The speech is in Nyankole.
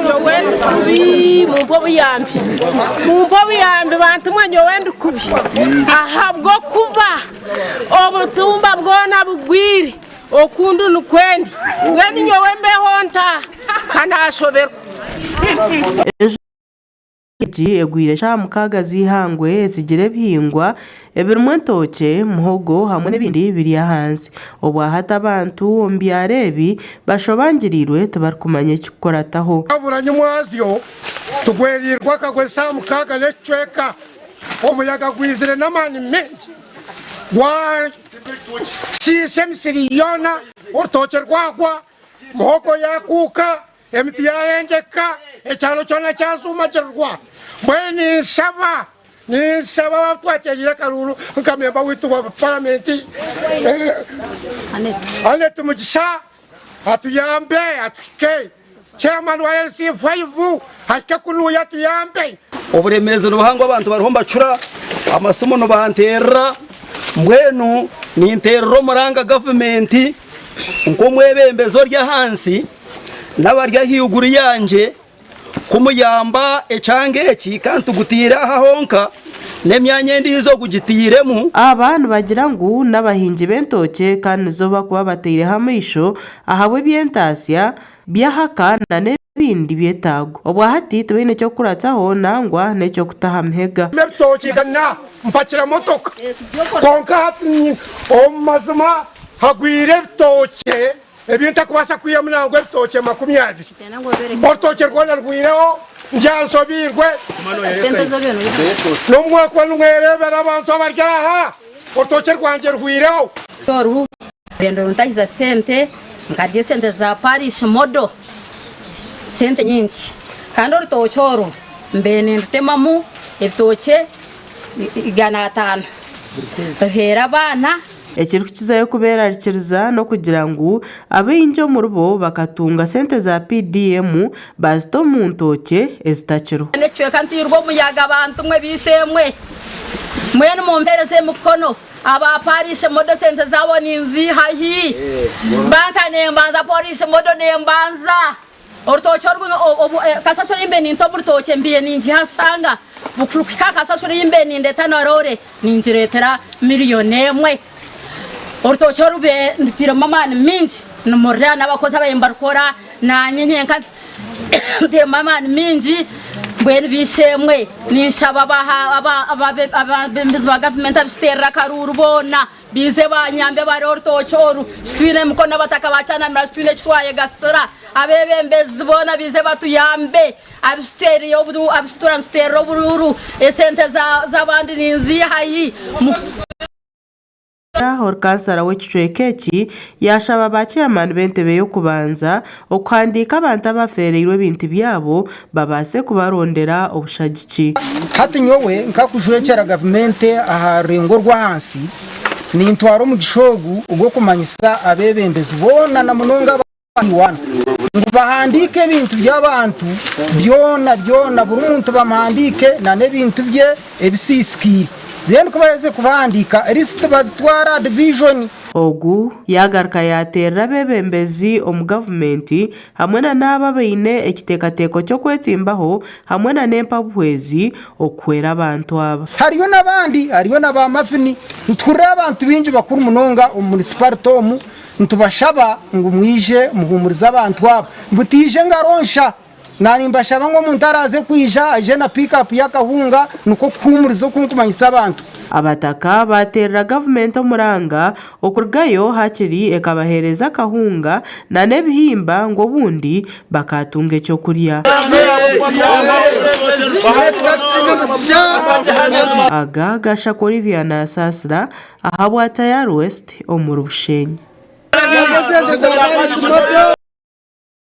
Nyowe ndi kubi mumpe obuyambi mumpe obuyambi bantu mwe nyowe ndi kubi ahabw'okuba obutumba bwona bugwire okundi nikwendi mbwenu nyowe mbeho nta kanashoberwa egi egwire eshaaha mukaaga z'eihangwe etsigire ebihingwa ebirimu etookye, muhogo hamwe n'ebindi biri ahansi. Obwa hati abantu omu byaro ebi bashobangiriirwe tibarikumanya ekikukurataho. Oburanyu mwazyo tigweriirwe akagwa eshaaha mukaaga n'ekicweka. Omuyaga gwizire n'amaani maingi gwashiisha emisiri yoona, orutookye rwagwa, muhogo yaakuuka. Emiti yaahengeka, ekyaro kyona kyashuumagirirwa. Mbwenu ninshaba, ninshaba waaba twateraire akaruuru nka memba waitu wa Paramenti Annet Mugisha atuyambe atuhike, Chairman wa LC Five ahike kunuuya atuyambe. Oburemeezi nibuhango abantu bariho nibacura, amasimu nibanteerera, mbwenu ninteerera omuranga Gavumenti nk'omwebembezi ori ahansi. n'abari ahaiguru yangye kumuyamba ekyanga eki ka ntugutaire aha honka, n'emyanya endiijo gugitairemu. Aba nibagira ngu n'abahingi b'entookye kandi nizo bakuba bataireho amaisho ahabw'eby'entaatsya, by'ahaka na n'ebindi byetaago. Obwahati tibaine ky'okukuratsaho nangwa n'eky'okutaha mihega. Ebitookye ka nampakira motoka, kwonka hati omu mazima hagwire ebitookye Ebi ntakubaasa kwihamu nangwa ebitookye makumi abiri. Orutookye rwona rwireho ndya nshobeirwe. N'obu mwakuba nimwereebera abantu abari aha, orutookye rwangye rwireho. Oru orurendo runtahiza sente, nkadya esente za parish modo, sente nyingi. Kandi orutookye oru mbaire nindutemamu ebitookye igana ataano, ruheere abaana. Ekirikukizayo kubeerarikiriza n'okugira ngu abaingi omuribo bakatunga sente za PDM baazita omu ntookye ezitakiriho. Nikicweka ntairwe omuyaga bantu mwe baishe mwe. Mbwenu mumpereze emikono aba parish modo sente zabo ninziiha hi? Banka nembanza porish modo nembanza. Orutookye oru obu kasasiro ei mbaire ninta omu rutookye mbaire ningiha nshanga bukuhika aha kasasiro ei mbaire nindeeta na roore ningireetera milioni emwe. Orutookye oru mbaire ndutairemu amaani maingi nimururya n'abakozi ababaire nibarukora naanye nyenka ntairemu amaani maingi mbwenu ba ishe-emwe ninshaba abebembezi ba gavumenti abakiterire akaruuru boona Baize banyambe bari orutookye oru titwine mikono abataka ba kyanamira titwine eki twayegasira abebembezi boona baize batuyambe abisituura nituteerera oburuuru esente zabandi ninziiha hi. Omugyera Oru Kansara w'ekicweka eki yashaba ba chairman b'entebe y'okubanza Okuhandiika abantu abafeereirwe ebintu byabo babaase kubarondera obushagiki. Hati nyowe nkakujwekyera gavumenti aha rurengo orw'ahansi, nintwara omugisha ogu ogw'okumanyisa abeebembezi boona na munonga aba Iwana, ngu bahandiike ebintu by'abantu byona byona, buri muntu bamuhandiike na n'ebintu bye ebisiisikaire, then ku baheza kubahandiika, lisiti bazitware aha divijoni. Ogu yaagaruka yaateerera abeebembezi omu gavumenti hamwe na n'abo abaine ekiteekateeko ky'okwetsimbaho hamwe na n'empabuhwezi okuhwera abantu aba. Hariyo n'abandi, hariyo na ba Mavin. Nituhurira abantu baingi bakuru munonga omu munisiparite omu nitubashaba ngu mwije muhuumurize abantu aba, ngu taija engaro nsha. Naaba nimbashaba ngu omuntu araaze kwija, aije na piikaapu y'akahunga nikwo kuhuumuriza oku nkumanyisa abantu. Abataka baateerera gavumenti omuranga, okurugayo hakiri ekabaheereza akahunga nana ebihimba ngu obundi bakaatunga eky'okurya. Aga Gashaka Olivia Nasaasira ahabwa Tayari West omuri Bushenyi.